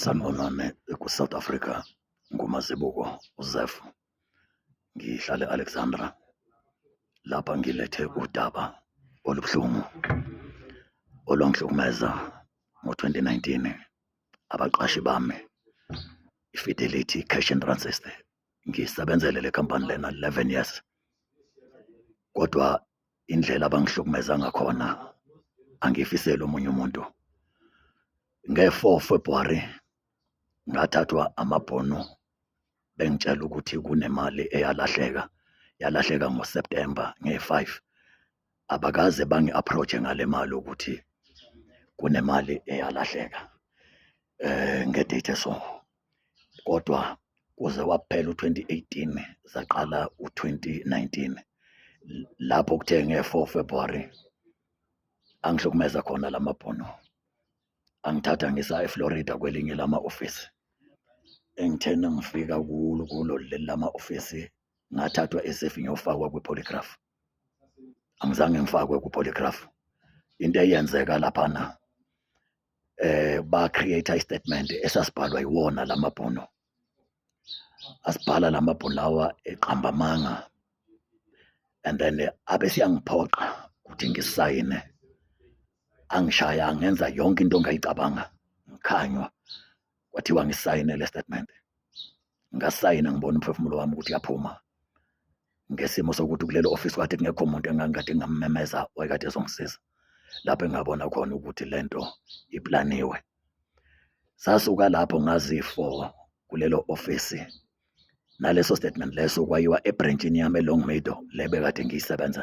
Sanibonani ku-South Africa nguMazibuko uZef ngihlale Alexandra lapha ngilethe udaba olubuhlungu olwangihlukumeza ngo-2019 abaqashi bami i-Fidelity Cash and Run System ngisebenzele le company lena 11 years kodwa indlela abangihlukumeza ngakhona angifiseli omunye umuntu nge-4 February ngathathwa amabhono bengitshela ukuthi kunemali eyalahleka yalahleka ngoSeptember nge-5 abakaze bangi-approache ngale mali ukuthi kunemali eyalahleka eh ngedate so kodwa kuze waphela u-2018 zaqala u-2019 lapho kuthe nge-4 February angihlukumeza khona lamabhono angithatha ngisa eFlorida kwelinye lama office engithena ngifika kulo kulo leli lama office ngathathwa esefi ngiyofakwa kwi-polygraph angizange ngifakwe ku-polygraph into eyenzeka laphana eh ba create i statement esasibhalwa iwona lamabhono asibhala lamabhono lawa eqamba manga and then eh, abe siyangiphoqa ukuthi ngisayine angishaya ngenza yonke into ongayicabanga ngikhanywa kwathiwa ngisayine le statement ngasayina ngibona umphefumulo wami ukuthi uyaphuma ngesimo sokuthi kulelo office kade kungekho muntu engangikade ngammemeza wayekade ezongisiza lapho engabona khona ukuthi lento iplaniwe sasuka lapho ngazifo kulelo office naleso statement leso kwayiwa ebranchini yami elong meadow le bekade ngiyisebenza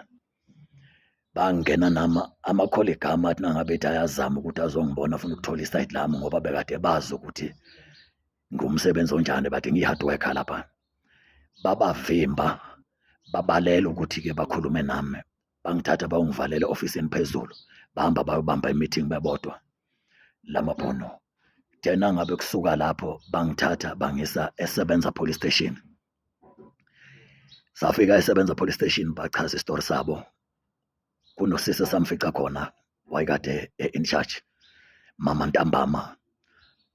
bangena nama amakholigama athi nangabe ethi ayazama ukuthi azongibona afuna ukuthola isayidi lami ngoba bekade bazi ukuthi ngumsebenzi onjani bathi ngiyi-hard worker lapha babavimba babalela ukuthi-ke bakhulume nami bangithatha bawungivalele ofisini phezulu bahamba bayobamba imeeting bebodwa lamabhono then angabe kusuka lapho bangithatha bangisa esebenza police station safika esebenza police station bachaza isitori sabo kunosisi samfica khona wayekade e-in charge mama ntambama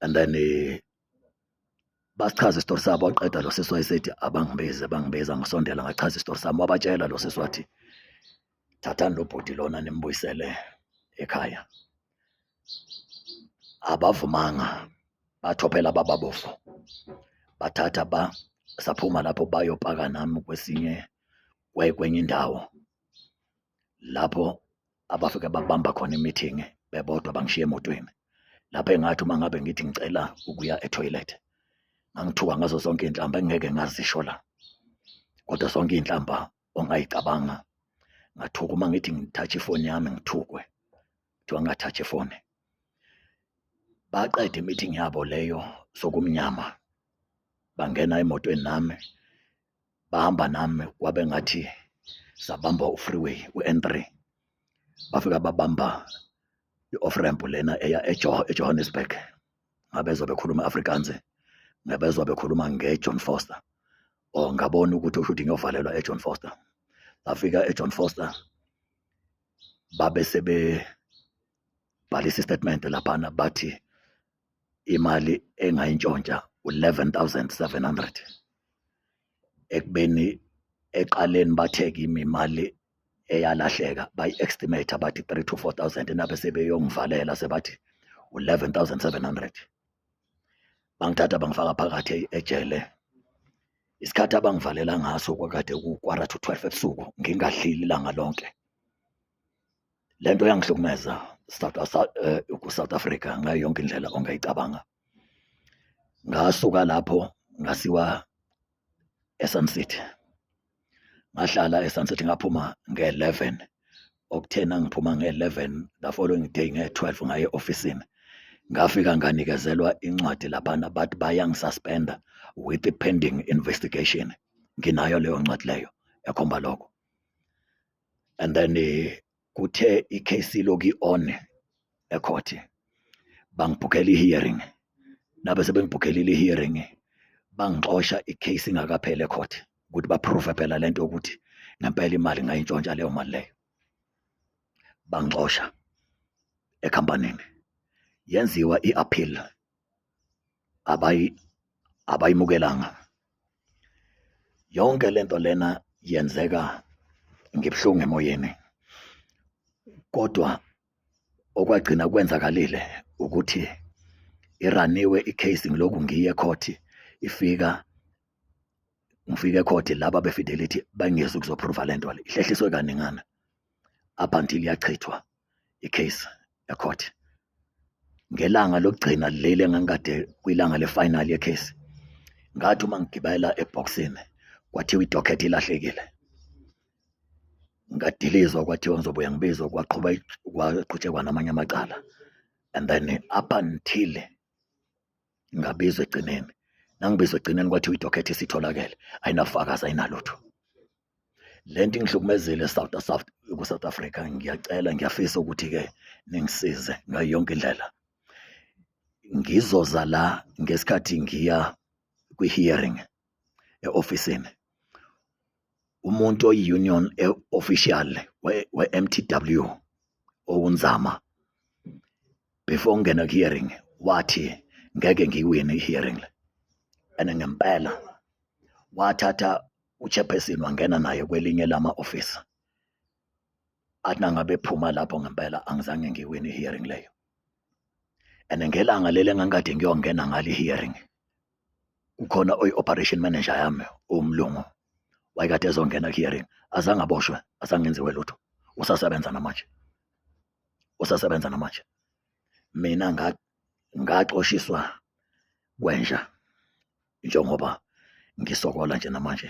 and then eh, basichaza isitori sabo waqeda lo sisi wayesethi abangibize bangibiza ngisondela ngachaza isitori sami wabatshela lo sisi wathi thathani lo bhuti lona nimbuyisele ekhaya abavumanga bathophela bababofo bathatha ba saphuma lapho bayopaka nami kwesinye kwenye indawo lapho abafike babamba khona imithingi bebodwa bangishiye emotweni lapho engathi uma ngabe ngithi ngicela ukuya etoilet ngangithuka ngazo zonke iy'nhlamba engingeke ngazisho la kodwa zonke iy'nhlamba ongayicabanga ngathuka uma ngithi ngithathe ifoni yami ngithukwe kuthiwa ngathatha ifoni baqeda imeeting yabo leyo sokumnyama bangena emotweni nami bahamba nami kwabe ngathi sabamba u-freeway u-n3 bafika babamba i-off ramp lena eya ejohannesburg ngabezwa bekhuluma Afrikaans ngabezwa bekhuluma ngeJohn Foster or oh, ngabona ukuthi ushuthi ngiyovalelwa eJohn Foster ngafika eJohn Foster babe sebe bhalisa istatement laphana bathi imali engayintshontsha u11700 ekubeni eqaleni bathe kimi imali eyalahleka bayi-estimate abathi 3 to 4 thousand nabe sebeyongivalela sebathi u-11 thousand 700 bangithatha bangifaka phakathi ejele isikhathi abangivalela ngaso kwakade kukwara to 12 ebusuku ngingadlili ilanga lonke le nto yangihlukumeza eh, ku-south africa ngayo yonke indlela ongayicabanga ngasuka lapho ngasiwa eSun City ngahlala eSun City ngaphuma nge-11 okuthena ngiphuma nge-11 the following day nge-12 ngaye e-ofisini ngafika nganikezelwa incwadi laphana bathi bayangisuspenda with the pending investigation nginayo leyo ncwadi leyo ekhomba lokho and then eh, kuthe icase iloki on ecourt bangibhukela i-hearing nabe sebengibhukhelile i-hearing bangixosha icase ingakapheli ecourt ukuthi baprove phela lento ukuthi ngempela imali ngayintshontsha leyo mali leyo bangixosha ekhampanini yenziwa i-appeal abayi abayimukelanga yonke lento lena yenzeka ngibuhlungu emoyeni kodwa okwagcina kwenzakalile ukuthi iraniwe icase ngiloku ngiye court ifika ngifike court laba befidelity bangezi ukuzoprova lento le ihlehliswe kaningana up until yachithwa icase ecourt ngelanga lokugcina leli engangikade kwilanga lefinal yecase ngathi uma ngigibela eboxini kwathiwa idocket ilahlekile ngadilizwa kwathiwa ngizobuya ngibizwa kwaqhuba kwaqhutshekwa namanye amacala and then up until ngabizwa egcineni nangibizwa egcineni kwathiwa idocket isitholakele ayinafakazi ayinalutho le nto ingihlukumezile South South ku-South Africa ngiyacela ngiyafisa ukuthi-ke ningisize ngayo yonke indlela ngizoza la ngesikhathi ngiya kwi-hearing e-ofisini umuntu oyi-union official we-MTW owunzama before ngingena ku-hearing wathi ngeke ngiyiwine i-hearing le and ngempela wathatha uchairperson wangena naye kwelinye lama-ofisi athi nangabe phuma lapho ngempela angizange ngiwine i-hearing leyo and ngelanga leli engangikade ngiyongena ngalo i-hearing kukhona oyi-operation manager yami umlungu wayekade ezongena ku-hearing azange aboshwe asangenziwe lutho usasebenza namanje usasebenza namanje mina ngaxoshiswa kwenja njengoba ngisokola nje namanje